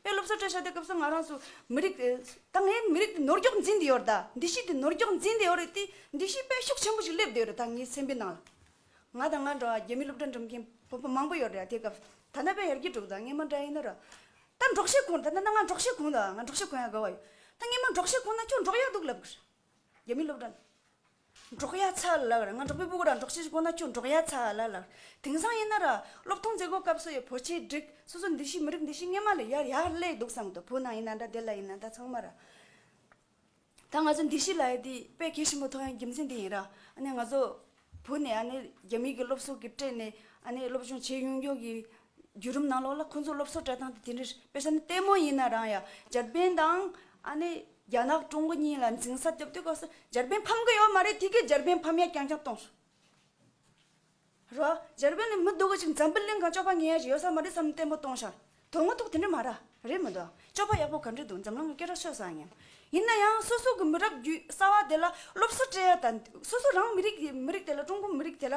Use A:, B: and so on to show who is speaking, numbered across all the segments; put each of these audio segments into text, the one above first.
A: པའི་སློབ་གསོ་སྤྲོད་བྱ་དེ་སྐབས་སུ་ང་རང་སུ་མི་རིགས། ད་ངའི་མི་རིགས་འདི་ནོར་འགྱོག་འཛིན་དེ་ཡོད་རེད་ད་འདི་ཤེས་དེ་ནོར་འགྱོག་འཛིན་དེ་ཡོད་རེད་དེ་འདི་ཤེས་དཔེ་ཤུགས་ཆེན་པོ་ཞིག་སླེབས་དེ་ཡོད་རེད་ད་ངའི་སེམས་པའི་ནང་ལ་ང་དང་ང་འདྲ་བ་རྒྱ་མི་སློབ་གྲྭ་འགྲིམ་མཁན་བོད་པ་མང་པོ་ཡོད་རེད་དེ་སྐབས་ད་ནང་པའི་ཡར་རྒྱས་དྲུག་དང་རྔན་མ་འདྲ་ཡིན་ན་ར་ད་འབྲོག་ཤེས་གོང་ད་ནང་ང་འབྲོག་ཤེས་གོང་ད་ང་འབྲོག་ཤེས་གོང་ཡག་དགའ་བ་ཡོད་ད་རྔན་མ་འབྲོག་ཤེས་གོང་ན་ཁྱོད་འབྲོག་ཡག་འདུག་ལབ་གི་རེད་རྒྱ་མི་སློབ་གྲྭ། འབྲོག་ཡ་ཚ་ལགས་རེད་ང་འབྲོག་པའི་སྤུ་གུ་ར་འབྲོག་ཆེན་ཞིག་ཁོ་ན་ཁྱོད་འབྲོག་ཡ་ཚ་ལ་ལགས་རེད་དེང་སང་ཡིན་ན་ར་སློབ་སྟོང་མཛད་སྒོ་སྐབས་སུ་ཡི་བོ་ཆེ་བསྒྲིགས་སོ་སོ་འདི་ཤི་མི་རིགས་འདི་ཤི་སྔས་མ་ལ་ཡར་ཡག་སླེགས་འདུག་བསམ་དོ་བོད་ནང་ཡིན་ན་འདྲ་བདེ་ལ་ཡིན་ན་འདྲ་ཚང་མ་ར་ད་ང་ཚོ་འདི་ཤི་ལ་ཡི་དེ་དཔེ་གལ་ཆེན་པོ་ཐོག་ཡང་རྒྱུ་མཚན་འདི་ཡིན་ར་ཨ་ནི་ང་ཚོ་བོད་ནས་ཨ་ནི་རྒྱ་མིའི་གི་སློབ་གསོ་གི་སྤྲད་ནས་ཨ་ནི་སློབ་སྦྱོང་བྱེད་ཡོང་ཡོང་གི་བརྒྱུད་རིམ་ནང་ལོགས་ལ་ཁོང་ཚོ་སློབ་གསོ་གྲྭ་ཐང་དུ་དེ་འདྲའི་དཔེ་ཆ་ནི་ལྟད་མོ་ཡིན་ན་རང་ཡང་འཇར་པན་དང་ཨ་ནེ་རྒྱ་ནག་ཀྲུང་གོ་གཉིས་ལ་འཛིང་ས་རྒྱབ་དུས་སྐབས་སུ་འཇར་པན་ཕམ་གི་ཡོད་མ་རེད་དེ་གས་འཇར་པན་ཕམ་ཡ་རྐྱང་རྐྱང་གཏོང་སོང་རོ། འཇར་པན་ནི་མི་སྡུག་གི་ཅིག་འཛམ་བུ་གླིང་གང་ཅོག་པ་ངན་ཡ་ཞིག་ཡོད་ས་མ་རེད་བསམ་ནས་ལྟད་མོ་གཏོང་ཤག་དོན་དངོས་ཐོག་དེ་འདྲ་མ་ར་རེད་མི་འདུག་ཅོག་པ་ཡག་པོ་ག་འདྲ་འདུག་འཛམ་གླིང་གི་སྐད་གྲགས་ཤོས་སང་ངན་ཡིན་ན་ཡང་སོ་སོ་གི་མི་རབས་བརྒྱུད་གསར་བ་དེ་ལ་སློབ་གསོ་སྤྲད་ཡ་དང་སོ་སོ་རང་མི་རིགས་མི་རིགས་དེ་ལ་ཀྲུང་གོ་མི་རིགས་དེ་ལ་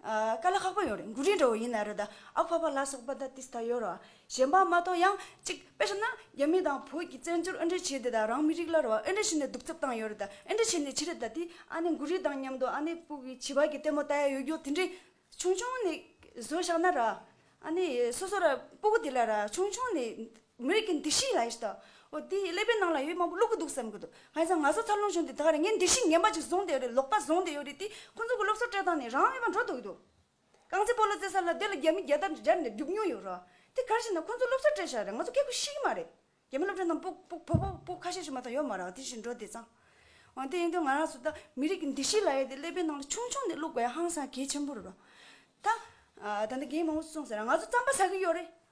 A: དཀའ་ལས་ཁག་པོ་ཡོད་རེད་མགོ་རིལ་འདྲ་བོ་ཡིན་ན་རེད་ད་ཨ་ཕ་པ་ལ་སོགས་པ་ད་ཏིས་ད་ཡོད་རོ་གཞན་པ་མ་གཏོགས་ཡང་གཅིག་དཔེ་ཤོད་ན་རྒྱ་མི་དང་བོད་ཀྱི་བཙན་བྱོལ་ཨེ་འབྲེལ་བྱས་ཏེ་ད་རང་མི་རིགས་ལ་རོ་ཨེ་འབྲེལ་བྱས་ནས་སྡུག་རྩུབ་བཏང་ཡོད་རེད་ད་ཨེ་འབྲེལ་བྱས་ནས་བྱས་རེད་ད་དེ་ཨ་ནེ་མགོ་རིལ་དང་མཉམ་དུ་ཨ་ནེ་སྤུ་གི་བྱིས་པ་གི་ལྟད་མོ་ལྟ་ཡ་ཡོད་རྒྱུ་དེ་འདྲས་ཆུང་ཆུང་ནས་བཟོས་བཞག་ན་ར་ཨ་ནེ་སོ་སོ་ར་སྤུ་གུ་དེ་ལ་ར་ཆུང་ཆུང་ནས་མོས་ཀྱི་འདི་ཤི་ཡ་ཨེ་ཤི་ད། དེའི་ཀླད་པའི་ནང་ལ་ཡོད་མང་པོ་བླུག་གི་འདུག་བསམ་གྱི་འདུག་ང་ཡིན་ཙང་ང་ཟ་ཚར་ལོང་བྱུང་དེ་དག་རེད་ངས་འདི་ཤི་ངན་པ་ཅིག་བཟུང་བསྡད་ཡོད་རེད་ལོག་པ་བཟུང་བསྡད་ཡོད་རེད་དེ་ཁོང་ཚོ་གི་སློབ་གསོ་སྤྲད་སྟངས་ནི་རང་མེད་པ་འགྲོ་འདུག་གི་འདུག་རྐང་རྩེད་སྤོ་ལོ་རྩེད་ས་ལ་སྡོད་ལ་རྒྱ་མི་རྒྱལ་དར་སྦྱར་ནས་སྒྲུབ་མྱོང་ཡོད་རོགས་དེ་གར་ཤི་ན་ཁོང་ཚོ་སློབ་གསོ་སྤྲད་ཤག་རེད་ང་ཚོ་སྐད་ཁུ་ཤི་གི་མ་རེད་རྒྱ་མི་སློབ་གྲྭ་རྣམས་པོ་པོ་བོ་བོ་པོ་ཁ་ཤས་ཤོད་མ་ཐག་ཡོད་མ་རག་དེ་བཞིན་འགྲོ་བསྡད་ཙང་འོན་ཏེ་ཡིན་དུས་ང་རང་སུ་ད་མི་རིགས་ཀྱི་འདི་ཤི་ལ་ཡ་དེ་ཀླད་པའི་ནང་ལ་ཆུང་ཆུང་ནས་བླུག་པ་ཡ་ཧང་སང་གལ་ཆེན་པོ་རེད་རོགས་ད། ད་ལྟ་རྒན་མང་པོ་སུ་སོང་ཟེར་ན་ང་ཚོ་རྩམ་པ་ཟ་གི་ཡོད་རེད་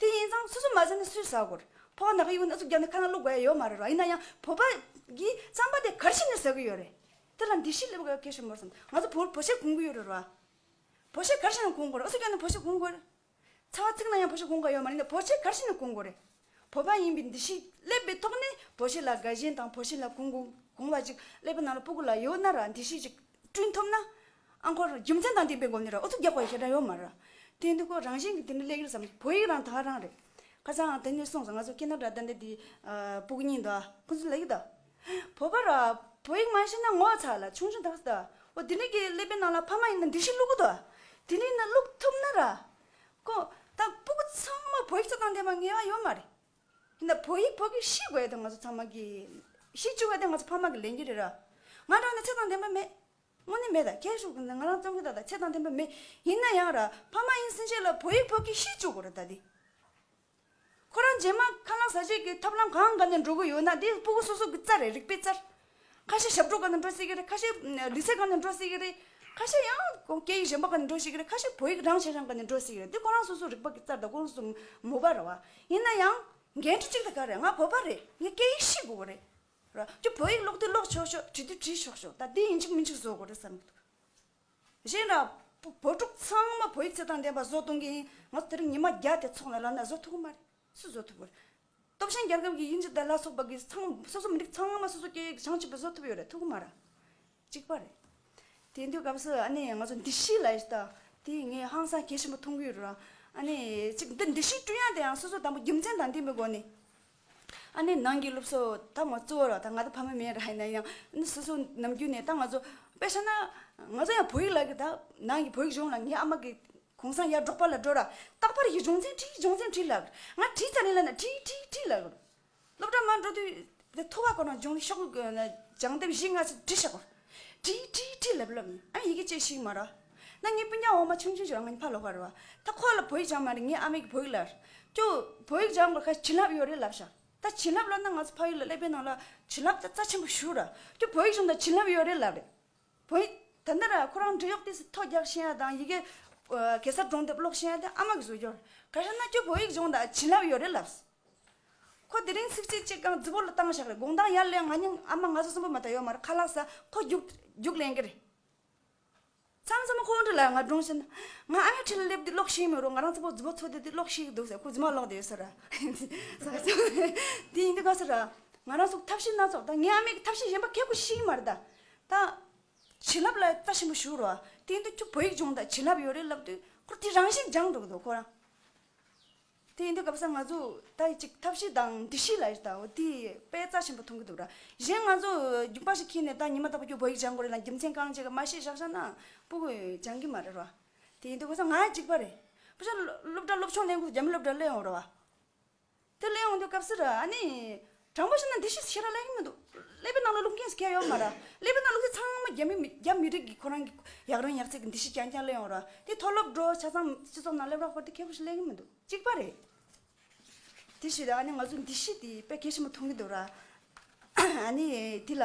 A: དེ་ཡིན་ཙང་སོ་སོ་མ་ཟ་ནི་སུས་ཟ་དགོས། ཕོ་བ་ནག་གི་དབུས་ན་གཟུགས་བརྒྱབ་ནས་ཁ་ན་བླུགས་དགོས་ཡ་ཡོད་མ་རེད་རོ་ཡིན་ན་ཡང་བོད་པ་གིས་རྩམ་པ་དེ་གར་ཕྱིན་ནས་ཟ་གི་ཡོད་རེད། དེ་ལ་འདི་ཤི་ལེབ་ག་གེ་ཞོ་མོར་བསམ་ང་ཚོ་བོ་བོ་ཤེ་གུང་གི་ཡོད་རེད་རོ། བོ་ཤེ་གར་ཕྱིན་ནས་གུང་དགོས་རེད་ཨུ་ཚུགས་བརྒྱབ་ནས་བོ་ཤེ་གུང་དགོས་རེད། ཚ་བ་ཚིག་ན་ཡང་བོ་ཤེ་གུང་ག་ཡོད་མ་རེད་ནས་བོ་ཤེ་གར་ཕྱིན་ནས་གུང་དགོས་རེད། བོད་པ་ཡིན་པའི་འདི་ཞིག་སླེབས་པའི་ཐོག་ནས་བོད་ཞེན་ལ་དགའ་ཞེན་དང་བོད་ཞེན་ལ་གུང་གུང་བ་ཅིག་སླེབས་པ་ནང་ལ་སྤུ་གུ་ལ་ཡོད་ན་ར་འདི་ཞིག་ཅིག་བསྐྲུན་ཐུབ་ན། ཨ་འཁོར་རྒྱུ་མཚན་དང་ལྡན་པའི་སྒོ་ནས་ར་ཨུ་ཚུགས་རྒྱག་པ་ཞེ་དྲག་ཡོད་མ་རེད། དེ་འདི་ཁོ་རང་བཞིན་གྱི་དེ་འདྲ་ལས་ཡོད་བསམ་བོད་ཡིག་རང་དག་རང་རེད། ཁ་སང་དེ་ནས་གསུངས་སོང་ང་ཚོ་སྐད་ནག་དྲ་ལྡན་དེ་འདི་སྤུ་གུ་གཉིས་འདུག་ཁོ་ཚོ་ལ་ཡིག་དག་བོད་པ་ར་བོད་ཡིག་མ་ཤེས་ན་ངོ་ཚ་ལ་ཆུང་ཆུང་དག་སོ་དག་འོ་དེ་འདྲ་གི་སླེབས་པའི་ནང་ལ་ཕ་མ་ཡིན་ན་འདི་ཞིག་བླུག་གོ་དག་དེ་འདྲའི་ནང་བླུག་ཐུབ་ན་ར། ཀོ། ད་སྤུ་གུ་ཚང་མ་བོད་ཡིག་གཙོ་དང་ལྡན་པ་ངེས་བ་ཡོད་མ་རེད། ཡིན་ན་བོད་ཡིག་བོད་གིས་ཤེས་དགོས་དོན་ང་ཚོ་ཚང་མ་གི་ཤེས་བཅུག་ཡོད་དེ་ང་ཚོ་ཕ་མ་གི་ལས་འགན་རེད་ར། ང་རང་ནི་ཚད་དང་ལྡན་པ་མེད། དངོས་གནས་མེད་ད་ཁྱེད་ཤུག་ང་རང་བཙོང་གི་ད་ད་ཚད་དང་ལྡན་པ་མེད། ཡིན་ན་ཡང་ར་ཕ་མ་ཡིན་ཟིན་ཆད་ལ་བོད་ཡིག་བོད་གིས་ཤེས་བཅུག་དགོས་ར་ད་དེ། ཁོ་རང་རྗེས་མ་ཁ་ལག་ཟ་བྱེད་ཀྱི་ཐབས་ལམ་གང་ག་ནས་འགྲོ་གི་ཡོད་ན་དེ་སྤུ་གུ་སོ་སོ་གི་རྩ་རེད་རིག་པའི་རྩར། ཁ་ཤས་ཞབས་བྲོ་ག་ནས་འགྲོ་སྲིད་ཀྱི་རེད་ཁ་ཤས་ལུས་རྩལ་ག་ནས་འགྲོ་སྲིད་ཀྱི་རེད། ཁ་ཤས་ཡང་སྐད་ཡིག་གཞན་པ་ག་ནས་འགྲོ་སྲིད་ཀྱི་རེད་ཁ་ཤས་བོད་ཡིག་རང་བྱས་རང་ག་ནས་འགྲོ་སྲིད་ཀྱི་རེད་དེ་ཁོ་རང་སོ་སོ་རིག་པ་གི་རྩར་དང་ཁོང་སོ་སོ་མོ་པ་རེད་བ། ཡིན་ན་ཡང་འགན་འཁྲི་གཅིག་དང་ག་རེད་ང་བོད་པ་རེད་ངས་སྐད་ཡིག་ཤེས་དགོས་གི་རེད། རོ། ཁྱོད་བོད་ཡིག་ཀློག་དུས་ཀློག་ཆོག་ཆོག་བྲིས་དུས་བྲིས་ཆོག་ཆོག་ད་དེ་ཡིན་གཅིག་མིན་གཅིག་བཟོ་དགོས་རེད་བསམ་གི་འདུག། གཞན་འདྲ། བོད་ཕྲུག་ཚང་མ་བོད་ཡིག་རྩེད་ཐང་འདེམས་པ་བཟོ་གཏོང་གི་ཡིན། ང་ཚོ་དེ་རིང་ཉི་མ་བརྒྱ་དེ་འཚོགས་ནས་ལབ་ན་བཟོ་ཐུབ་ཀྱི་མ་རེད། སུ་བཟོ་ཐུབ་ཕོད། སྟོབས་ཞན་རྒྱལ་ཁབ་ཀྱི་དབྱིན་ཇི་དར་ལ་སོགས་པ་གིས་ཚང་སོ་སོ་མི་རིགས་ཚང་མ་སོ་སོ་སྐད་ཡིག་བྱང་ཆུབ་པོ་བཟོ་ཐུབ་ཡོད་རེད་ཐུབ་ཀྱི་མ་རེད། གཅིག་པ་རེད། དེ་འདུས་སྐབས་སུ་ཨ་ནེ་ང་ཚོ་འདི་གཞིས་ལ་ཡོད་ས་དང་དེ་ངས་ཧང་སང་གལ་ཆེན་པོ་མཐོང་གི་ཡོད་རེད། ཨ་ནེ་གཅིག་འདི་འདི་གཞིས་ཀྲུང་དབྱང་དེའང་སོ་སོ་དང་པོ་རྒྱུ་མཚན་དང་ལྡན་པའི་སྒོ་ནས། ཨ་ནེ་ནང་གི་སློབ་གསོ་ད་ང་གཙོ་བོར་ད་ང་ད་ཕ་མ་མེད་ར་ཧེ་ན་ཡང་ཨ་སོ་སོ་ནམ་རྒྱུན་ནས་ད་ང་ཚོ་དཔེ་ཤེ་ན་ང་ཚོ་ཡང་བོད་ཡིག་ལག་གི་ད་ནང་གི་བོད་ཡིག་གཞུང་ལ་ངའི་ཨ་མ་གི་གུང་སང་ཡར་འབྲོག་པ་ལ་འགྲོ་ར་རྟག་པར་ཡི་སྦྱོང་ཚན་བྲིས་སྦྱོང་ཚན་བྲིས་ལགས་ང་བྲིས་ཙ་ནེ་ལ་ན་བྲིས་བྲིས་བྲིས་ལགས་གོ་སློབ་གྲྭ་མ་འགྲོ་དུས་དེ་ཐོ་བ་གོ་ན་སྦྱོང་ཤོག་ལ་སྦྱང་དེབ་བཞི་ལྔ་ཚིག་བྲིས་ཤག་གོ་བྲིས་བྲིས་བྲིས་ལབ་ལབ་ཨ་ཡི་གེ་བཅས་ཤིག་མ་ར། ན་ངའི་སྤུན་ཆང་འོ་མ་ཆུང་ཆུང་ཞིག་རང་ངའི་ཕར་ལོག་གར་རོ། ད་ཁོ་ལ་བོད་ཡིག་སྦྱང་མ་རེད་ངའི་ཨ་མའི་གི་བོད་ཡིག་ལ། ཀྱུ། བོད་ཡིག་སྦྱང་དགོས་ཁ་བྱིན་རླབས་ཡོད་རེད་ལབ་ཤག་ད་བྱིན་རླབས་ལབ་ན་ང་ཚོ་ཕ་ཡུལ་ལ་ཀླད་པའི་ནང་ལ་བྱིན་རླབས་ད་རྩ་ཆེན་པོ་ཞུ་ར། ཀྱུ་བོད་ཡིག་སྦྱོང་ད་བྱིན་རླབས་ཡོད་རེད་ལབ་རེད། བོད་ཡིག་ད་འདི་ར་ཁོ་རང་འབྲི་གཡོག་ལྟས་སུ་ཐོ་རྒྱག་ཤེས་ཡ་དང་ཡི་གེ། གེ་སར་སྒྲུང་དེབ་ཀློག་ཤེས་ཡ་དེ་ཨ་མ་གི་བཟོས་རྒྱུར། ག་ཤར་ན་ཀྱུ་བོད་ཡིག་སྦྱོང་ད་བྱིན་རླབས་ཡོད་རེད་ལབས། ཁོ་དེ་རིང་ཚིགས་བཅད་གཅིག་གང་རྫི་བོ་ལ་བཏང་ཤག་རེད་དགོངས་དང་ཡར་ལེན་ང་སྙིང་ཨ་མ་ང་ཚོ་གསུམ་པོ་མ་ད་ཡོད་མ་རེད་ཁ་ལག་ས་ཁོ་རྒྱུགས་རྒྱུགས་ལེན་གི་རེད། ཚང་ཚང་མ་ཁོང་ཁྲོ་ལ་ང་སྒྲུང་བཤད་ན། ང་ཨ་མའི་འཁྲིས་ལ་སླེབས་དུས་ཀློག་ཤེས་མི་རུང་ང་རང་ཚ་བོ་རྫི་བོ་ཚོ་དེ་དུས་ཀློག་ཤེས་འདུག་ཟེར་ཁོ་རྫི་མ་ཀློག་དེ་ཡོད་ས་ར། དེ་ཡིན་དུས་ག་ས་ར། ང་རང་སོགས་ཐབས་ཤེས་སྣ་ཚོགས་ད་ངའི་ཨ་མས་ཐབས་ཤེས་གཞན་པ་མཁས་པོ་ཤེས་ཀྱི་མ་རེད་ད། ད། བྱིན་རླབས་ལ་བལྟ་ཞིམ་པོ་ཞུ་རོགས་ཨ་དེ་ཡིན་དུས་ཁྱོད་བོད་ཡིག་སྦྱོང་དང་བྱིན་རླབས་ཡོད་རེད་ལབ་དུས་ཁོ་དེ་རང་བཞིན་སྦྱངས་འགྲོ་གི་འདུག་ཁོ་རང། དེ་ཡིན་དུས་གབ་ས་ང་ཚོས་ད་ཅིག་ཐབས་ཤེས་དང་འདྲི་གཞི་ལ་ད་འོ་དེ་དཔེ་རྩ་ཆེན་པོ་མཐོང་གི་འདུག་ར་གཞན་ང་ཚོ་རྒྱུག་པ་ཞིག་ཁྱེར་ནས་ད་ཉི་མ་རྟག་པ་ཁྱོད་བོད་ཡིག་སྦྱང་དགོས་རེད་དང་རྒྱུ་མཚན་གང་བྱས་ཀ་མ་ཤེས་བཞག་བཞག་ནའང་པུ་གུ་སྦྱང་གི་མ་རེད་ར་དེ་ཡིན་དུས་གོ་ས་ང་ཅིག་པ་རེད་པུ་ཤ་སློབ་གྲྭ་སློབ་ཆུང་གླེང་དགོས་སུ་རྒྱ་མི་སློབ་གྲྭ་གླེང་འོང་ར་བ་དེ་གླེང་འོང་དུས་གབ་སིར་ཨ་ནི་དྲང་པོ་བཤད་ན་འདི་ཤེས་ཤེས་ར་གླེང་གི་མི་འདུག་ཀླད་པའི་ནང་ལ་རླུང་ཁེངས་སུ་ཁྱེར་ཡོང་མ་ར། ཀླད་པའི་ནང་ལུག་རྫི་ཚང་མ་རྒྱ་མི་མི་རྒྱ་མི་རིགས་ཀྱི་ཁོ་རང་གི་ཡག་རང་ཡག་ཚིག་གི་འདི་ཤེས་རྐྱང་རྐྱང་གླེང་ཡོང་ར་དེ་མཐོ་སློབ་འགྲོ་ཆ་ཚང་སྤྱི་ཚོགས་ནང་སླེབས་རོགས་པར་དེ་ཁེག་པོ་ཞིག་གླེང་གི་མི་འདུག་གཅིག་པ་རེད། དེ་བཞི་རེད་ཨ་ནི་ང་ཚོ་འདི་ཤེས་དེ་དཔེ་གལ་ཆེན་པོ་མཐོང་གི་འདུག་ར། ཨ་ནི་དེ་ལ།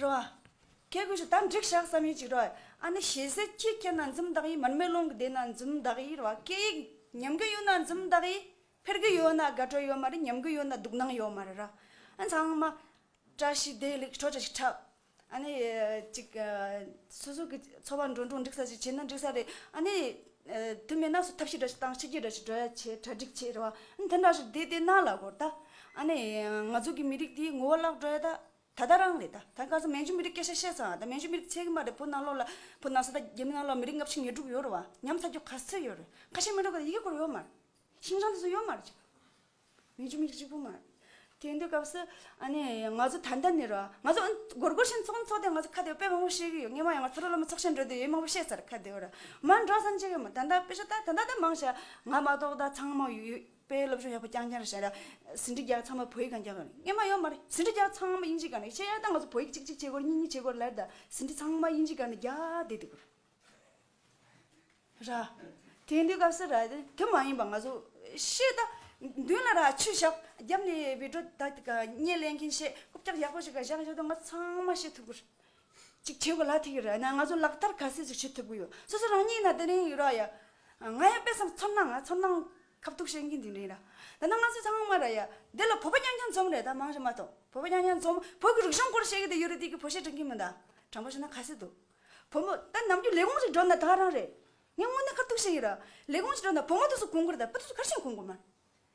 A: རེད་བ། ཁྱེད་ཀྱིས་ད་འགྲིག་ཤག་བསམ་ཡོད་ཅིག་རེད་བ། ཨ་ནི་ཞེ་ཟད་ཅི་སྐད་ན་འཛུམ་མདངས་ཡིས་མར་མེ་སློང་གི་བསྡད་ན་འཛུམ་མདངས་ཡིས་རེད་བ་སྐད་ཡིག་ཉམས་གི་ཡོད་ན་འཛུམ་མདངས་ཡིས་འཕེར་གི་ཡོད་ན་དགའ་སྤྲོ་ཡོད་མ་རེད་ཉམས་གི་ཡོད་ན་སྡུག་སྣང་ཡོད་མ་རེད་ར། ཨ་ཚང་མ། བཀྲ་ཤིས་བདེ་ལེགས་ཁྲོ་ཆ་ཞིག་འཁྲབ། ཨ་ནི། ཅིག། སོ་སོ་གི་འཚོ་བ་འགྲོ་འགྲོ་འགྲིག་ས་ཞིག་བྱས་ན་འགྲིག་ས་རེད། ཨ་ནི། དེ་མེད་ན་སོ་ཐབས་ཤེས་འདྲ་ཞིག་བཏང་ཕྱི་རྒྱལ་འདྲ་ཞིག་བྲོས་བྱས་གྲ་སྒྲིག་བྱས་རེད་བ། ཨ་ནི་དེ་འདྲ་ཞིག་བསྡད་དེ་ན་ལ་གོ་ད། ཨ་ནི། ང་ཚོ་གི་མི་རིགས་དེའི་ངོ་བོ་བརླག་འགྲོ་ཡ་ད། ད་ལྟ་རང་རེད་ད་ལྟ་གང་ས་མན་ཇུ་མི་རིགས་སྐད་ཆ་བཤད་ཚང་ད་མན་ཇུ་མི་རིགས་ཚད་ཀྱི་མ་རེད་བོད་ནང་ལོགས་ལ་བོད་ནང་ས་ད་རྒྱ་མི་ནང་ལོགས་མི་རིགས་ལྔ་བཅུ་ཉེར་དྲུག་ཡོད་རེད་བ་ཉམས་ཐག་རྒྱོ་ག་ཚོད་ཡོད་རེད་ཁ་ཤས་མན་ཇུ་ག་ཡི་གེ་སྐོར་ཡོད་མ་རེད་ཤིང་ཅང་དེ་ཚོ་ཡོད་མ་རེད་མན་ཇུ་མི་རིགས་གཅིག་པོ་མ་རེད་དེ་འདུས་སྐབས་སུ་ཨ་ནི་ང་ཚོ་ད་ལྟ་ནི་རོ་ང་ཚོ་སྒོར་སྒོར་བཞིན་ཚོགས་ནི་ཚོགས་ཏེ་ང་ཚོ་ཁ་བདེ་བོ་དཔེ་མང་པོ་བཤད་ཀྱི་ཡོད་རྔན་མ་ཡང་ང་ཚོ་ཕྲུག་སློབ་མ་ཚོགས་ཆེན་འགྲོ་དུས་ཡིན་མང་པོ་བཤད་ཚར་ཁ་བདེ་བོ་ར་མ་འགྲོ་ས་ནི་བྱེད་ཀྱི་མ་ད་ད་དཔེ་ཆ་ད་ད་ད་མང་ཆ་ང་མ་གཏོགས་ད་ཚང་མ་ཡོད་པའི་སློབ་སྦྱོང་ཡག་པོ་རྐྱང་རྐྱང་རེ་བྱས་ན། ཟིན་བྲིས་རྒྱག་ཚང་མ་བོད་ཡིག་གང་རྐྱང་རེད། ངས་མ་ཡོང་མ་རེད། ཟིན་བྲིས་རྒྱག་ཚང་མ་དབྱིན་ཇིའི་གང་རེད། ཁྱེད་རང་ད་ང་ཚོ་བོད་ཡིག་གཅིག་གཅིག་བྱེད་དགོས་རེད་གཉིས་གཉིས་བྱེད་དགོས་རེད་ལར་ད། ཟིན་བྲིས་ཚང་མ་དབྱིན་ཇིའི་གང་རེད་རྒྱ་དེ་དེ་གོ་རེད། ར། དེ་འདི་སྐབས་སུ་ར་དེ་དེ་མ་ཡིན་པ་ང་ཚོ་ཤེས་ད། མདུན་ལ་ར་ཆུ་བཞག་རྒྱབ་ནས་བི་དྲོ་ད་གཉེན་ལེན་མཁན་ཤེས། རྐུབ་བཀྱག་ཡག་པོ་ཞིག་ག་བཞག་ཡོད་ད་ང་ཚོ་ཚང་མ་ཤེས་ཐུབ་གོ་རེད། ཅིག་བྱེད་དགོས་ལ་དེ་གི་རེད་ན་ང་ཚོ་ལག་བསྟར་ག་ཟེ་ཟིག་བྱེད་ཐུབ་གི་ཡོད་སོ་སོ་རང་ཉིད་ཡིན་ན་དེ་རིང་ཡོད་ར་ཡ། ང་ཡང་དཔེ་བསམ་ཚོར་སྣང་ང་ཚོར་སྣང་ཁ་བཏུག་བཤད་མཁན་དེ་རིང་ར། ད་ནང་ང་ཚོ་ཚང་མ་ར་ཡ། འདི་ལ་བོད་པ་རྐྱང་རྐྱང་འཛོམས་རེད་ད་མང་ཞིག་མ་གཏོགས་བོད་པ་རྐྱང་རྐྱང་འཛོམས་བོད་ཀྱི་རིག་གཞུང་སྐོར་བཤད་གི་དེ་ཡོད་རེད་དེ་གི་བོད་བཤད་དྲན་གི་མིན་ད། དྲང་པོ་བཤད་ན་ག་ཟེ་འདུག་བོད་མོ་ད་ནམ་རྒྱུན་ལས་ཁུངས་ཞིག་འགྲོ་ན་ད་རང་རེད། ངས་དངོས་གནས་ཁ་བཏུག་བཤད་ཡིན་ར། ལས་ཁུངས་ཞིག་འགྲོ་ན་བོད་མོ་དུ་སུ་གོང་དགོས་རེད་ད་བོད་དུ་སུ་གར་ཞིང་གོང་དགོས་མ་རེད།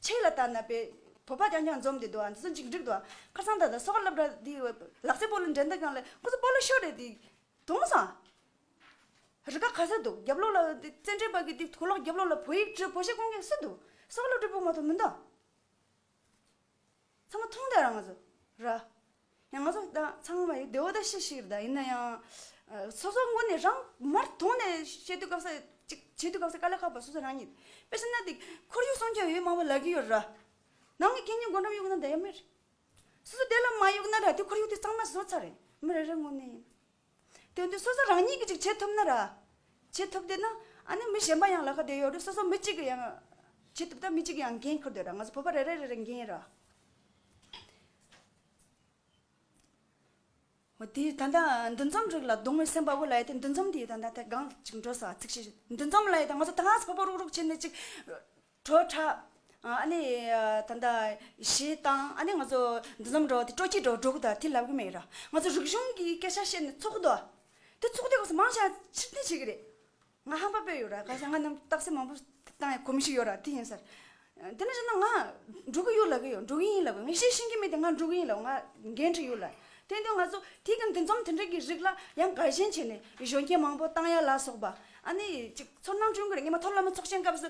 A: ཆེས་ལ་ལྟ་ན་པའི། བོད་པ་རྐྱང་རྐྱང་འཛོམས་ཏེ་འདུག་ཨ་འདི་ཚོ་འཇིགས་འགྲིག་འདུག་ཁ་སང་ད་ད་སོ་ཁ་ལབ་འདྲ་འདི་ལག་རྩེད་སྤོ་ལོ་འགྲན་ཟླ་སྒང་ལ་ཁོ་ཚོ་སྤོ་ལོ་ཤོར་རེད་འདི་དུང་སང་རི་ཁ་ག་ས་འདུག་རྒྱབ་ལོག་ལ་འདི་བཙན་བྱོལ་བ་གི་འདི་གོ་ལོག་རྒྱབ་ལོག་ལ་བོད་ཡིག་བྲོས་བོ་ཞེས་སྐོང་མཁན་སུ་འདུག་སོ་ཁ་ལོ་བྲོས་བོ་མ་ཐོ་མི་འདུག། ཚང་མ་ཐུང་དང་རང་བཟོ་ར། ཡང་ང་ཚོ་དང་ཚང་མ་ཡིན་དེའོ་ད་ཤེས་ཤིག་ར་ད་ཡིན་ན་ཡང། སོ་སོ་ངོ་ནས་རང་མར་དོགས་ནས་བཤད་དུས་སྐབས་ས་ཅིག་བྱེད་དུས་སྐབས་ས་ཀ་ལ་ཁག་པ་སོ་སོ་རང་ཉིད། དཔེ་ཤེ་ན་དེ་ཁོར་ཡུག་སྲུང་སྐྱོབ་ཡོད་མང་པོ་ལབ་ཀྱི་ཡོད་ར། ནང་གི་སྐད་གཉིས་སྒོ་འགྲམ་གཡུག་ན་ད་ཡ་མེད་རེད། སོ་སོ་དེ་ལ་མ་གཡུག་ན་ར་དེ་ཁོར་ཡུག་དེ་གཙང་མ་བཟོ་ཚར་རེད་མི་རེ་རེ་ངོ་ནས་ཡིན། དོན་དུ་སོ་སོ་རང་ཉིད་ཀྱིས་ཅིག་བྱེད་ཐུབ་ན་ར། བྱེད་ཐུབ་དེ་ན་ཨ་ནི་མི་གཞན་པ་ཡང་ལ་ཁ་དེ་ཡོད་རེད་སོ་སོ་མི་གཅིག་གིས་ཡང་བྱེད་ཐུབ་ད་མི་གཅིག་གིས་ཡང་འགན་འཁུར་དོད་ར་ང་ཚོ་བོད་པ་རེ་རེ་རེ་རེ་འགན་ཡིན་ར། འོ་དེ་ད་ལྟ་འདུ་འཛོམས་རིགས་ལ་གདོང་བའི་སེམས་པ་དབུ་ལ་ཡོད་དེ་འདུ་འཛོམས་དེ་ད་ལྟ་དེ་སྒང་ཅིག་འགྲོ་ས་ཚིག་གཅིག་འདུ་འཛོམས་ལ་ཡོད་དེ་ང་ཚོ་ད་གཟ་བོད་པ་རུག་རུག་བྱས་ནས་ཅིག། བྲོ་འཁྲབ། ཨ་ནི། ད་ལྟ། ཞེས་བཏང། ཨ་ནི་ང་ཚོ། འདི་ཙམ་འགྲོ། དེ་སྤྲོ་སྐྱིད་འགྲོ་འགྲོ་གི་ད་དེ་ལབ་གི་མེད་ར། ང་ཚོ་རིག་གཞུང་གི་སྐད་ཆ་བཤད་ནས་ཚོགས་འདུ། དེ་ཚོགས་འདུའི་སྐབས་སུ་མང་ཆེ་བ་ཕྱིར་འཐེན་བྱེད་ཀྱི་རེད། ང་ཧམ་པ་སྤོས་ཡོད་ར། ག་ཤེད་ང་རྣམས་རྟགས་གསལ་མང་པོ་བཏང་ཡ་གོ་མི་ཤེས་ཡོད་ར་དེ་ཡིན་ཟེར། དེ་ནས་བཤད་ན་ང། འགྲོ་གི་ཡོད་ལབ་གི་ཡོད་འགྲོ་གི་ཡིན་ལབ་གི། ངས་བཤད་ཤེས་ཀྱི་མེད་དེ་ང་འགྲོ་གི་ཡིན་ལབ་ང་འགན་འཁྲི་ཡོད་ལ། དོན་དུ་ང་ཚོ་དེ་གམ་དེ་འཛོམས་དེ་འདྲ་གི་རིགས་ལ་ཡང་དགའ་ཞེན་བྱས་ནས་གཞོན་སྐྱེས་མང་པོ་བཏང་ཡ་ལ་སོགས་པ་ཨ་ནི་ཅིག་ཚོར་སྣང་སྐྲུན་དགོས་རེད་ངས་མ་མཐོ་སློབ་མ་ཚོགས་ཆེན་སྐབས་སུ་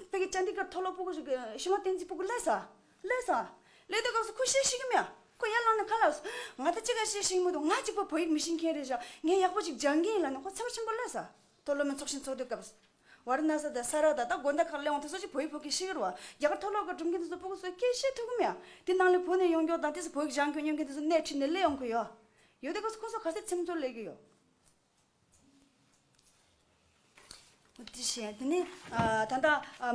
A: དཔེ་ཀྱི་བཅར་འདྲི་སྐབས་མཐོ་སློབ་པུ་གུ་ཞིག་གིས་ཤི་མ་བསྟན་རྩིས་པུ་གུ་ཀླད་ཟ། ཀླད་ཟ། ཀླད་དོད་སྐབས་སུ་ཁོ་ཤེས་ཤེས་ཀྱི་མ་ཡ། ཁོ་ཡར་ལངས་ནས་ཁ་ལགས་སོ། ང་ད་ཅི་ག་ཤེས་ཤེས་ཀྱི་མ་འདུག་ང་གཅིག་པུ་བོད་ཡིག་མི་ཤེས་མཁན་རེད་བཞག་ངས་ཡག་པོ་ཅིག་སྦྱང་གིན་ཡིན་ལ་ནི་ཁོ་ཚེ་བ་ཆེན་པོ་ཀླད་ཟ། མཐོ་སློབ་མའི་ཚོགས་ཆེན་ཚོགས་དུས་སྐབས། ཝཱ་ར་ན་སཱི་དང་སཱ་ར་ད་ད་དགོན་དང་ཁག་གླེང་བ་དེ་ཚོ་ཅིག་བོད་ཡིག་ཕོག་གི་ཤི་ཡོད་རུང་རྒྱ་གར་མཐོ་སློབ་ཁག་སྒྲུབ་མཁན་དེ་ཚོ་སྤུ་གུ་ཚོས་སྐད་ཤེས་ཐུབ་གི་མེད་ཨ། དེ་ནང་ལས་བོད་ནས་ཡོང་མགྱོགས་དང་དེ་ཚོ་བོད་ཡིག་སྦྱང་མགྱོགས་སྙོན་མཁན་དེ་ཚོ་སྣེ་ཁྲིད་ནས་སླེ་ཡོང་གི་ཡོད། ཡོད་དེ་ཁོ་ཚོ་ཁོ་ཚོ་ག་ཚད་ཚིམ་ཚོར་ལས་གི་ཡོད། དེ་བཞིན་དེ་ནི་ད་ལྟ་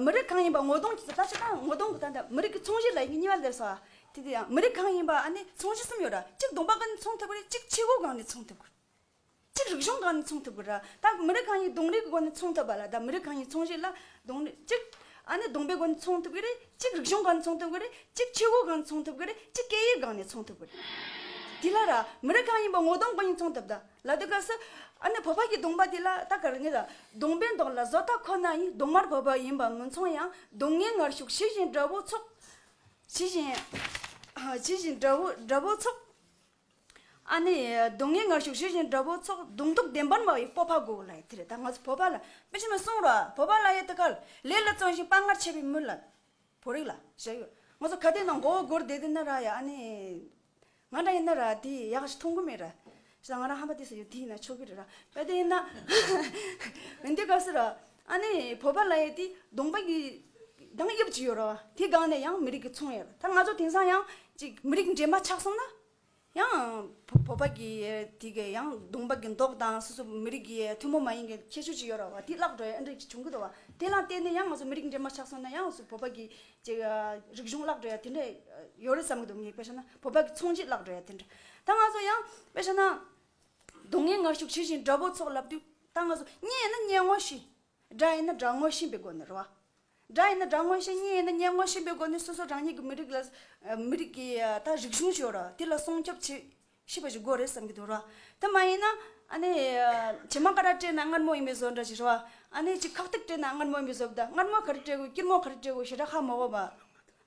A: མི་རིགས་གང་ཡིན་པ་ངོ་གདོང་གཅིག་ཏུ་ལྟ་ཆོག་ད་ངོ་གདོང་གི་ད་ལྟ་མི་རིགས་ཀྱི་ཚོང་གཞི་ལ་ཡི་གེ་གཉིས་པ་ལས་སོ་ཨ། དེ་དེ་ཡང་མི་རིགས་གང་ཡིན་པ་ཨ་ནི་ཚོང་གཞི་གསུམ་ཡོད་ར་གཅིག་གདོང་པ་གང་ནས་ཚོང་ཐེབས་དགོས་རེད་གཅིག་ཕྱི་སྒོ་གང་ནས་ཚོང་ཐེབས་དགོས། གཅིག་རིག་གཞུང་གང་ནས་མཚུངས་ཐུབ་ཀྱི་རེད། ད་མི་རིགས་གང་ཡིན་གདོང་རིས་ཀྱི་སྒོ་ནས་མཚུངས་ཐུབ་པ་ལ་ད་མི་རིགས་གང་ཡིན་མཚུངས་གཞི་ལ་གདོང་རིས་གཅིག་ཨ་ནི་གདོང་པའི་སྒོ་ནས་མཚུངས་ཐུབ་ཀྱི་རེད། གཅིག་རིག་གཞུང་གང་ནས་མཚུངས་ཐུབ་ཀྱི་རེད། གཅིག་ཆོས་གོས་གང་ནས་མཚུངས་ཐུབ་ཀྱི་རེད། གཅིག་སྐད་ཡིག་གང་ནས་མཚུངས་ཐུབ་ཀྱི་རེད། དེ་ལ་ར་མི་རིགས་གང་ཡིན་པ་ངོ་གདོང་གང་ཡིན་མཚུངས་ཐུབ་ད་ལ་དེ་ག་སི་ཨ་ནི་བོད་པ་ཀྱི་གདོང་པ་དེ་ལ་ད་ག་རེ་ངེས་ད་གདོང་པའི་མདོག་ལ་བཟོ་ལྟ་ཁོ་ན་ཡིན་གདོང་དམར་བོད་པ་ཡིན་པ་མི་མཚུངས་ཡང་གདོང་ངའི་ངར་ཤུགས་ཇི་བཞིན་དགྲ་བོའི་ཚོགས་ཇི་བཞིན་ཇི་བཞིན་དགྲ་བོའི་དགྲ་བོའི་ཚོགས། ཨ་ནི། སྡུག་བསྔལ་ངར་ཤུགས་ཞི་ཞིང་དགྲ་བོའི་ཚོགས་གདུང་དུག་ལྡན་པདྨ་བའི་སྤོབས་པ་དགོས་གོ་ལ་ཡི་དེ་རེད་ད་ང་ཚོ་བོད་པ་ལ་དཔེ་ཆེན་པོ་སྲུང་རོགས་བོད་པ་ལ་ཡི་དེ་ག་ལེ་ལ་བརྩོན་ཞིང་དཔའ་ངར་ཆེ་བའི་མི་ལ་བོད་རིགས་ལ་བཤད་ཡོད་ང་ཚོ་ག་དེ་ནང་མགོ་བོ་སྒུར་བསྡད་དེ་ན་ར་ཡ་ཨ་ནི། ང་འདྲ་ཡི་ན་ར་དེ་ཡག་ཞིག་མཐོང་གི་མེད་ར་ཤི་ད་ང་རང་ཧམ་པ་དེ་ས་ཡོད་དེ་ཡི་ན་ཆོག་གི་རེད་ར་ག་དེ་ཡི་ན། འདི་ག་སུ་ར་ཨ་ནེ་བོད་པ་ལ་ཡོད་དེ་གདོང་པ་གི་གདངས་དབྱིབས་ཅིག་ཡོད་ར་བ་དེ་སྒང་ནས་ཡང་མི་རིགས་ཀྱི་མཚུངས་ཡོད་ར་ད་ང་ཚོ་དེང་སང་ཡང་ཅིག་མི་རིགས་འདྲེས་མ་ཆགས་སོང་ན་ཡང་བོད་པ་གི་དེ་གི་ཡང་གདོང་པ་གི་མདོག་དང་སོ་སོ་མི་རིགས་ཀྱི་ཐུན་མོང་མ་ཡིན་གྱི་ཁྱད་ཆོས་ཅིག་ཡོད་ར་བ་དེ་བརླག་འགྲོ་ཡ་འདྲ་ཅིག་བྱུང་གི་འདུག་བ་དེ་ལ་བརྟེན་ནས་ཡང་ང་ཚོ་མི་རིགས་འདྲེས་མ་ཆགས་སོང་ན་ཡང་བོད་པ་གི་ཅིག་རིག་གཞུང་བརླག་འགྲོ་ཡ་དེ་འདྲ་ཡོད་རེད་བསམ་གྱི་འདུག་ངས་དཔེ་ཆ་ན་བོད་པ་གི་མཚུངས་ཆེད་བརླག་འགྲོ་ཡ་དེ་འདྲ་ད་ང་ཚོ་ཡང་དཔེ་ཆ་ན་སྡུག་བསྔལ་ངར་ཤུགས་ཇི་བཞིན་དགྲ་བོ་ཚོགས་ལ་བསྡུས། ད་ང་ཚོ་གཉེན་ཡིན་ན་གཉེན་ངོ་བཞིན། དགྲ་ཡིན་ན་དགྲ་ངོ་བཞིན་པའི་སྒོ་ནས་རོལ་བ། དགྲ་ཡིན་ན་དགྲ་ངོ་བཞིན་གཉེན་ཡིན་ན་གཉེན་ངོ་བཞིན་པའི་སྒོ་ནས་སོ་སོ་རང་ཉིད་ཀྱི་མི་རིགས་ལ། མི་རིགས་ཀྱི་ད་རིག་གཞུང་ཞིག་ཡོད་རེད་དེ་ལ་སྲུང་སྐྱོབ་བྱེད་ཤེས་པ་ཞིག་དགོས་རེད་བསམ་གྱི་འདུག་རེད་བ། དེ་མ་ཡིན་ན་ཨ་ནེ། བྱེ་མ་ཀ་ར་སྤྲད་ན་མངར་མོ་ཡིན་པའི་བཟོ་འདྲ་ཞིག་རེད་བ། ཨ་ནེ་ཅིག་ཁག་ཐེག་སྤྲད་ན་མངར་མོ་ཡིན་པའི་བཟོ་བདག་མངར་མོ་ག་རེ་སྤྲད་དགོས་སྐྱུར་མོ་ག་རེ་སྤྲད་དགོས་ཞེ་དྲག་ཧ་མ་གོ་བ།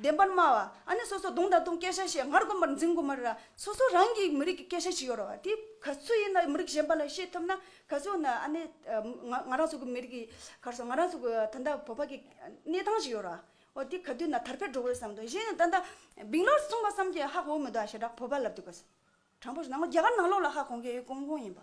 A: བདེན་པར་སྨྲ་བ། ཨ་ནི་སོ་སོ་གདུང་དང་བསྟུན་སྐད་ཆ་བཤད་སྔར་དགོན་པར་འཛིན་དགོས་མ་རེད་ལ་སོ་སོ་རང་གིས་མི་རིགས་ཀྱི་སྐད་ཆ་ཅིག་ཡོད་རེད་བ་དེ་ག་ཚོད་ཡིན་ན་མི་རིགས་གཞན་པ་ལ་བཤད་ཐུབ་ན་ག་ཚོད་ཡིན་ན་ཨ་ནི་ང་རང་ཚོ་གི་མི་རིགས་ཀྱི་གར་སོང་ང་རང་ཚོ་གི་ད་ལྟ་བོད་པ་གི་གནས་སྟངས་ཅིག་ཡོད་རེད་བ་འོ་དེ་ག་དུས་ན་དར་འཕེལ་འགྲོ་དགོས་བསམ་འདུག་གཞན་ཡང་ད་ལྟ་བིང་ལོར་གསུངས་པ་བསམ་གྱི་ཧ་གོ་མི་འདུག་ཨ་ཞེ་དྲག་བོད་པ་ལབ་དུས་ག་ཚོད་དྲང་པོ་ཞུ་ནང་ལོག་རྒྱ་གར་ནང་ལོག་ལ་ཧ་གོ་མཁན་ཡོད་གོང་གོང་ཡིན་པ།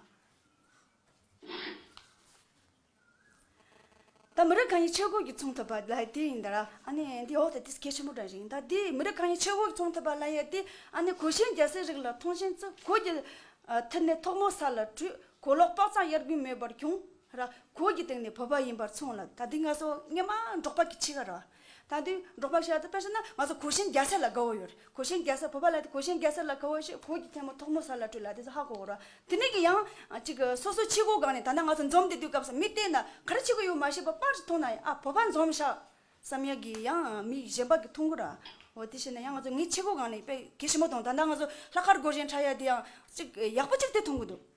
A: ད་མི་རིགས་གང་ཡིན་ཆོས་གོས་ཀྱིས་མཚུངས་ཐུབ་པ་ལ་ཡས་ཏི་ཡིན་ད་ར་ཨ་ནི་འདི་འོག་ཏུ་དེ་སྐད་ཆེན་པོ་བསྒྲགས་ཤིང་ད་འདི་མི་རིགས་གང་ཡིན་ཆོས་གོས་ཀྱིས་མཚུངས་ཐུབ་པ་ལ་ཡས་ཏི་ཨ་ནི་གོས་ཞེན་རྒྱ་སེ་རིགས་ལ་མཐོང་ཞེན་ཚུ་གོས་ཀྱི་མཐུ་ནས་ཐོག་མོ་ས་ལ་བྲུས་གོས་ལོག་དཔག་ཙམ་གཡར་དགོས་མོས་པར་བྱུང་ར་གོས་ཀྱི་སྟེང་ནས་བོས་པ་ཡིན་པར་མཚུངས་ལ་ད་འདི་ང་སོ་ངེ་མ་འབྲོག་པ་གི་ཕྱི་ག་ར། ད་དུས་འབྲོག་པ་ཤ་ཚ་དཔེར་བཤད་ན་ང་ཚོ་གོས་ཞེན་རྒྱ་སེར་ལ་དགའ་བོ་ཡོད་གོས་ཞེན་རྒྱ་སེར་བོད་པ་ལ་དེ་གོས་ཞེན་རྒྱ་སེར་ལ་དགའ་བོ་ཞེས་གོས་ཀྱི་ཐལ་མོ་ཐོག་མོ་ས་ལ་བཀྲུས་ལ་དེ་ཚོ་ཧ་གོ་རོགས་དེ་མིན་གྱི་ཡང་ཅིག་སོ་སོ་ཕྱི་གོས་གང་ནས་ད་ནངས་ང་ཚོ་འཛོམས་དེ་དུས་སྐབས་སུ་མི་བལྟས་ན་ག་རེ་བྱེད་གི་ཡོད་མ་ཤེས་པ་པར་ཅིག་མཐོང་ན་ཡང་ཨ་བོད་པ་འཛོམས་ཤག་བསམ་ཡག་གི་ཡང་མི་གཞན་པ་གི་མཐོང་གི་ར་འོ་དེ་བྱས་ན་ཡང་ང་ཚོ་ངའི་ཕྱི་གོས་གང་ནས་དཔེ་གལ་ཞིབ་མོ་མཐོང་ད་ནངས་ང་ཚོ་ལྷག་དཀར་གོས་ཞེན་ཁྲ་ཡག་དེ་ཡང་ཅིག་ཡག་པོ་ཅིག་དེ་མཐོང་གི་འདུག།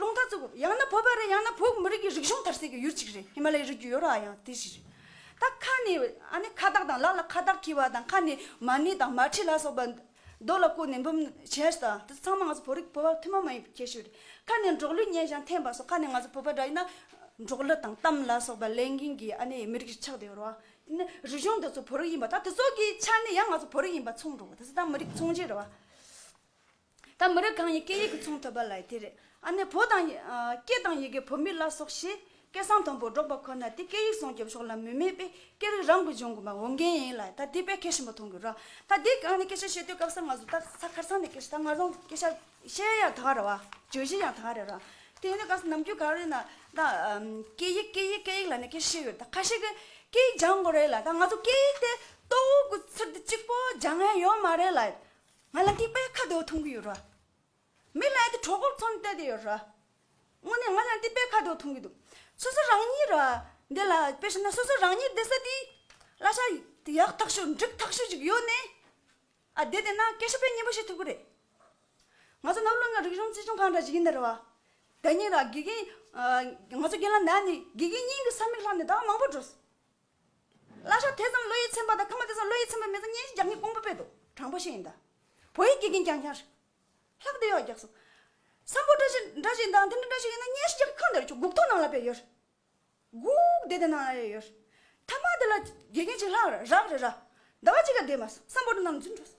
A: སློང་ཐ་ཚུགས་དགོས། ཡང་ན་བོད་པ་རེད་ཡང་ན་བོད་མི་རིགས་ཀྱི་རིག་གཞུང་དར་སྲོལ་གྱི་ཡུལ་གཅིག་རེད་ཧི་མ་ལའི་རི་རྒྱུད་ཡོ་རོ་ཨ་ཡང་དེ་བཞིན་རེད། ད་ཁ་ནས་ཨ་ནི་ཁ་བཏགས་དང་ལག་ལ་ཁ་བཏགས་འཁྱིལ་བ་དང་ཁ་ནས་མ་ཎི་དང་མ་ཁྲི་ལ་སོགས་པ་རྡོ་ལ་བརྐོས་ནས་འབུམ་བྱས་ཟ་དང་དེ་ཚོ་ཚང་མ་ང་ཚོ་བོད་རིགས་བོད་པ་ཐུན་མོང་མ་ཡིན་པའི་ཁྱད་ཆོས་རེད། ཁ་ནས་འབྲོག་གླུ་སྙན་ཞིང་འཐེན་པ་སོགས་ཁ་ནས་ང་ཚོ་བོད་པ་འདྲ་ཡིན་ན། འབྲོག་གླུ་དང་གཏམ་ལ་སོགས་པ་ལས་འགན་གྱི་ཨ་ནི་མི་རིགས་ཆགས་དེ་ཡོ་རོ་ཨ་དེ་ནི་རིག་གཞུང་དེ་ཚོ་བོད་རིགས་ཡིན་པ་ད་དེ་ཚོ་གི་ཆ་ནས་ཡང་ང་ཚོ་བོད་རིགས་ཡིན་པ་མཚུངས་འགྲོ་བ་དེ་ཚོ་ད་མི་རིགས་མཚུངས་རྗེས་རེད་བ། ད་མི་རིགས་གང་ཡིན་སྐད་ཡིག་གི་མཚུངས་ཐོབ་པ་ལ་དེ་རེད་ཨ་ནེ་བོད་དང། སྐད་དང་ཡི་གེ་བོད་མི་བླ་སྲོག་ཞེས་སྐད་གསང་དམ་པོར་སྒྲོག་པ་ཁོ་ན་དེ་སྐད་ཡིག་སྲུང་སྐྱོབ་ཕྱོགས་ལ་མུས་མེད་པས་སྐད་རིགས་རང་གི་གཞུང་གི་མ་འོངས་འགན་ཡིན་ལ་ད་དེ་བས་ཁེ་ཞིམ་པོ་མཐོང་གི་རོགས་ད་དེ་གང་ནས་སྐད་ཆ་བཤད་དུས་སྐབས་སམ་ང་ཚོ་ད་ས་ཁར་ཚང་ནས་སྐད་ཆ་ད་ང་རང་སྐད་ཆ་བཤད་ཡག་ད་ག་རེད་བ་བརྗོད་གཞི་ཡང་ད་ག་རེད་ར་དེ་ཡིན་ན་ག་ས་ནམ་རྒྱུན་ག་རེ་ན་ད་སྐད་ཡིག་སྐད་ཡིག་སྐད་ཡིག་ལ་ནས་སྐད་ཆ་བཤད་ཡོད་ད་ཁ་ཤས་ཀྱི་སྐད་ཡིག་སྦྱང་དགོས་རེད་ལ་ད་ང་ཚོ་སྐད་ཡིག་དེ་ཏོག་གི་ཚུལ་དུ་གཅིག་པོ་སྦྱང་ཡས་ཡོད་མ་རེད་ལ་ང་ལ་འདི་པའི་ཁ་དོག་འཐུང་གི་ཡོད་རེད། མི་ལ་དེ་གྲོགས་པོར་འཚོ་ནས་བལྟས་དེ་ཡོད་རེད། དངོས་གནས་ང་ལ་འདི་པའི་ཁ་དོག་འཐུང་གི་འདུག་སོ་སོ་རང་ཉིད་ར་འདི་ལ་དཔེ་ཞིབ་ན་སོ་སོ་རང་ཉིད་བསྡད་ས་དེའི་གླ་ཆ་དེ་ཡག་ཐག་ཤོས་འགྲིག་ཐག་ཤོས་ཅིག་ཡོད་ནས་ཨ་བསྡད་དེ་ན་སྐད་ཆ་ཕན་ངེས་པོ་བཤད་ཐུབ་ཀྱི་རེད། ང་ཚོ་ནགས་ཀླུང་ལ་རིག་གཞུང་རྩིས་སྦྱོང་གང་འདྲ་ཞིག་ཡིན་ནི་རེད་བ། ད་ཉིད་ར་དགེ་རྒན་ང་ཚོ་རྒན་ལགས་ན་ནས་དགེ་རྒན་རྙིང་གི་ས་མིག་ལྷག་ནས་ད་མང་པོ་འགྲོ་སྲིད། བླ་ཤག་དེ་ཙམ་བློ་ཡིད་ཚིམ་པ་དང་ཁ་མ་དེ་ཙམ་བློ་ཡིད་ཚིམ་པ་མེད་ས་བརྙན་ཞིག་རྒྱག་མཁན་དཀོན་པོ་དཔེ་འདུག་དྲང་པོ་ཤེས་ཡིན་ད། བོད་ཡིག་དགེ་རྒན་རྒྱང་ཤར། ལྷག་བདེ་ཡོག་རྒྱག་སོང། བསམ་བོ་འདྲ་ཞིག་འདྲ་ཞིག་འདང་དེ་འདྲ་འདྲ་ཞིག་ཡིན་ན་བརྙན་ཞིག་རྒྱག་མཁན་ཁང་དེ་རུ་བཅུག་སྒུག་ཐོ་ནང་ལ་དཔེ་ཡོད། སྒུག་བདེ་དེ་ནང་ལ་ཡོད་ཡོད། མཐའ་མ་དེ་ལ་དགེ་རྒན་ཞིག་ལྷག་རག་རེད་ར། ཟླ་བ་གཅིག་ལ་བསྡད་མ་སོང་བསམ་བོ་འདྲ་རྣམས་རྫུན་འཕྲོ་སོང།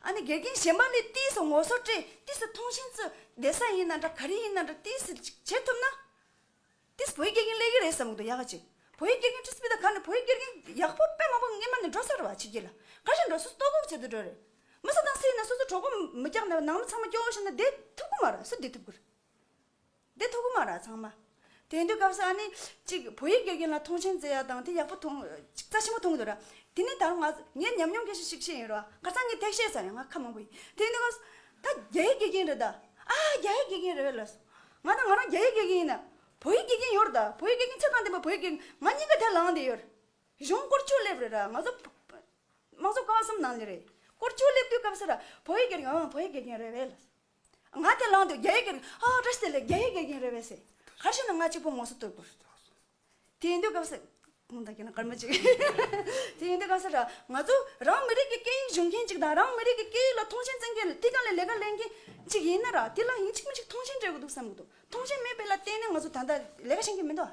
A: ཨ་ནི་དགེ་རྒན་གཞན་པ་ལས་ཏིས་སུ་ངོ་སོ་བཀྲེས་ཏིས་སུ་མཐོང་ཞེན་བཙུད་བདེ་ས་ཡིན་ན་འདྲ་ག་རེ་ཡིན་ན་འདྲ་ཏིས་སུ་ཅིག་བྱེད་ཐུབ་ན། ཏིས་བོད་ཡིག་དགེ་རྒན་ལས་ཀྱི་རེད་བསམ་གི་འདུག་ཡག་ག་ཅིག་བོད་ཡིག་དགེ་རྒན་ཏིས་སྤི་ད་ག་ནས་བོད་ཡིག་དགེ་རྒན་ཡག་པོ་དཔེ་མང་པོ་སྔས་མ་ནས་འགྲོ་ཚར་བ་བྱེད་ཀྱི་ལ་ག་ཞིག་འགྲོ་སོ་སོ་ལྟོ་གོག་བྱེད་དུ་འགྲོ་རེད་མི་སུ་དང་སུ་ཡིན་ན་སོ་སོ་གྲོགས་པོ་མི་རྐྱང་ནང་མི་ཚང་མ་སྐྱོ་བོ་བྱེད་ན་བསྡད་ཐུབ་ཀི་མ་རེད་སུ་བསྡད་ཐུབ་ཀི་རེད། འདི་ཐུག་གི་མ་ར་ཚང་མ། དེང་དུས་སྐབས་སུ་ཨ་ནི། གཅིག་བོད་ཡིག་སྐྱོད་མཁན་ལ་མཐོང་ཆེན་མཛད་ཡག་དང་དེ་ཡག་པོ་མཐོང། རྩ་ཆེན་པོ་མཐོང་འདུག་ར། དེ་ནི་ད་རུང་ང། ངའི་ཉམས་མྱོང་གྱི་ཤིག་ཤིག་ཡིན་རུང། ཁར་ཚང་གི་ཐེག་བཤད་ཚང་ཡང་ང་ཁ་མང་པོ་ཡིན། དེང་དུས་སྐབས་སུ། ད་རྒྱ་ཡིག་དགེ་རྒན་རེད་ད། ཨ་ཨ་རྒྱ་ཡིག་དགེ་རྒན་རེད་ལབ་སོང། ང་ད་ང་རང་རྒྱ་ཡིག་དགེ་རྒན་ཡིན་ན། བོད་ཡིག་དགེ་རྒན་ཡོད་རེད་ད། བོད་ཡིག་དགེ་རྒན་ཆ་ཚང་ལྡན་པ་བོད་ཡིག་དགེ་རྒན་ང་གཉིས་ཀ་དེར་ལངས་བསྡད་ཡོད་རེད། གཞུང་བསྐོར་བསྐྱོད་སླེབས་རེད་ར་ང་ཚོ། དམངས་གཙོ་བཀའ་གསུམ་ནང་ལས་རེད། བསྐོར་བསྐྱོད་སླེབས་དུས་སྐབས་སུ་ར། བོད་ཡིག་དགེ་རྒན་ཨོ་བོད་ཡིག་དགེ་རྒན་རེད་ལབ་སོང། ང་དེ་ལང་འདུག་རྒྱ་ཡིག་གིས་ཨ་ཨོ་ཏྲ་སི་ལ་རྒྱ་ཡིག་ག་གིན་རེད་བས་སེ་གར་ཤི་ན་ང་གཅིག་པོ་ངོ་སོ་ལྟོས་གོ། དེ་ཡིན་དུས་སྐབས་སེ། ཁོང་ད་གིན་ན་སྐར་མ་གཅིག། དེ་ཡིན་དུས་སྐབས་སེ་ར་ང་ཚོ་རང་མི་རིགས་ཀྱི་སྐད་ཡིག་གཞུང་མཁན་གཅིག་དང་རང་མི་རིགས་ཀྱི་སྐད་ཡིག་ལ་མཐོང་ཆེན་བཙན་མཁན་ལ་དེ་ག་ལས་ལས་ཀ་ལས་མཁན་གཅིག་ཡིན་ན་ར་དེ་ལ་ཡིན་གཅིག་མིན་གཅིག་མཐོང་ཆེན་སྤྲད་དགོས་འདུག་བསམ་གི་འདུག་མཐོང་ཆེན་མེད་པའི་ལ་བརྟེན་ནས་ང་ཚོ་ད་ལྟ་ལས་ཀ་བྱེད་མཁན་མི་འདུག་ཨ།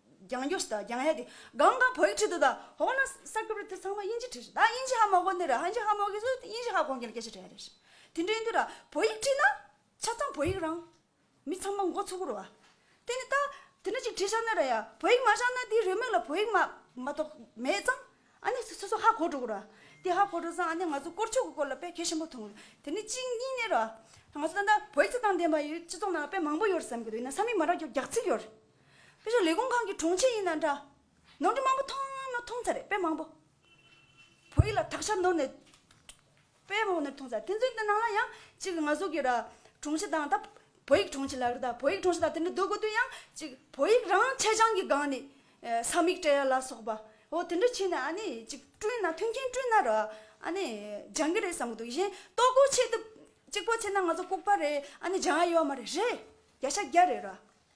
A: རྒྱང་སྐྱོད་བྱེད་རྒྱང་ཡ་དེ་གང་གང་བོད་ཀྱི་ཁྲིད་དུ་དང་འོག་ན་གསར་འགོད་པར་དེ་ཚང་མ་དབྱིན་ཇི་ཁྲིད་ཤེས་ད་དབྱིན་ཇི་ཧ་མ་གོ་ནི་ར་ཧན་ཇི་ཧ་མ་གོ་ཟུ་དབྱིན་ཇི་ཧ་གོ་མཁན་ལ་སྐད་ཆ་དྲི་ཡ་རེད་ཤེས་དེ་འདྲའི་དུས་ལ་བོད་ཡིག་ཁྲིད་ན་ཆ་ཚང་བོད་ཡིག་རང་མི་ཚང་མ་མགོ་ཚུགས་ཀུ་རུ་བ་དེ་ནི་ད་དེ་འདྲ་ཅིག་ཁྲིད་ཤག་ནི་ར་ཡ་བོད་ཡིག་མ་ཤག་ན་དེའི་རེའུ་མིག་ལ་བོད་ཡིག་མ་མ་གཏོགས་མེད་ཙང་ཨ་ནི་སོ་སོ་ཧ་གོ་འགྲོ་ཀུ་རུ་བ་དེ་ཧ་གོ་འགྲོ་ཙང་ཨ་ནི་ང་ཚོ་སྐོར་ཆོག་གི་སྐོར་ལ་དཔེ་གལ་ཆེན་པོ་མཐོང་དེ་ནི་གཅིག་གཉིས་ནི་ར་ང་ཚོ་ད་ལྟ་བོད་ཡིག་ཚོ་དང་ལྡན་པ་ཡིས་སྤྱི་ཚོགས་ནང་ལ་དཔེ་མང་པོ་ཡོད་བསམ་གྱི་འདུག་ཡིན་ན་ས་མིག་མ་རག་རྒྱག་ཚིག་ཡོད་རེད། དཔེ་ཆ་ལས་ཁུངས་གང་གི་དྲུང་ཆེ་ཡིན་ན་འདྲ། ནོར་འཁྲུལ་མང་པོ་མཐོང་ང་ནོར་མཐོང་ཚར་རེད་དཔེ་མང་པོ། བོད་ཡིག་ལ་དག་ཆ་ནོར་ནས། དཔེ་མང་པོ་ནོར་མཐོང་ཚར་དེ་ཚོའི་ནང་ལ་ཡང་ཅིག་ང་ཟུག་གི་ར། དྲུང་ཆེ་དང་ད་བོད་ཡིག་དྲུང་ཆེ་ལགས་རེད་ད་བོད་ཡིག་དྲུང་ཆེ་དང་དེ་འདྲ་སྡོད་དགོས་དུས་ཡང་ཅིག་བོད་ཡིག་རང་ཆད་སྦྱང་གི་སྒང་ནས། ས་མིག་བཀྲ་ཡ་ལ་སོགས་པ་འོ་དེ་འདྲ་བྱས་ནས་ཨ་ནི་ཅིག་བསྐྲུན་ན་མཐུན་རྐྱེན་བསྐྲུན་ན་ར། ཨ་ནི་སྦྱང་གི་རེད་བསམ་གི་འདུག་གཞན་ལྟོ་གོས་ཆེད་དུ་ཅིག་པོ་བྱས་ན་ང་ཚོ་ལྐུགས་པ་རེད་ཨ་ནི་སྦྱང་ཡ་ཡོད་མ་རེད་རེད་རྒྱ་ཤ་རྒྱ་རེད་ར།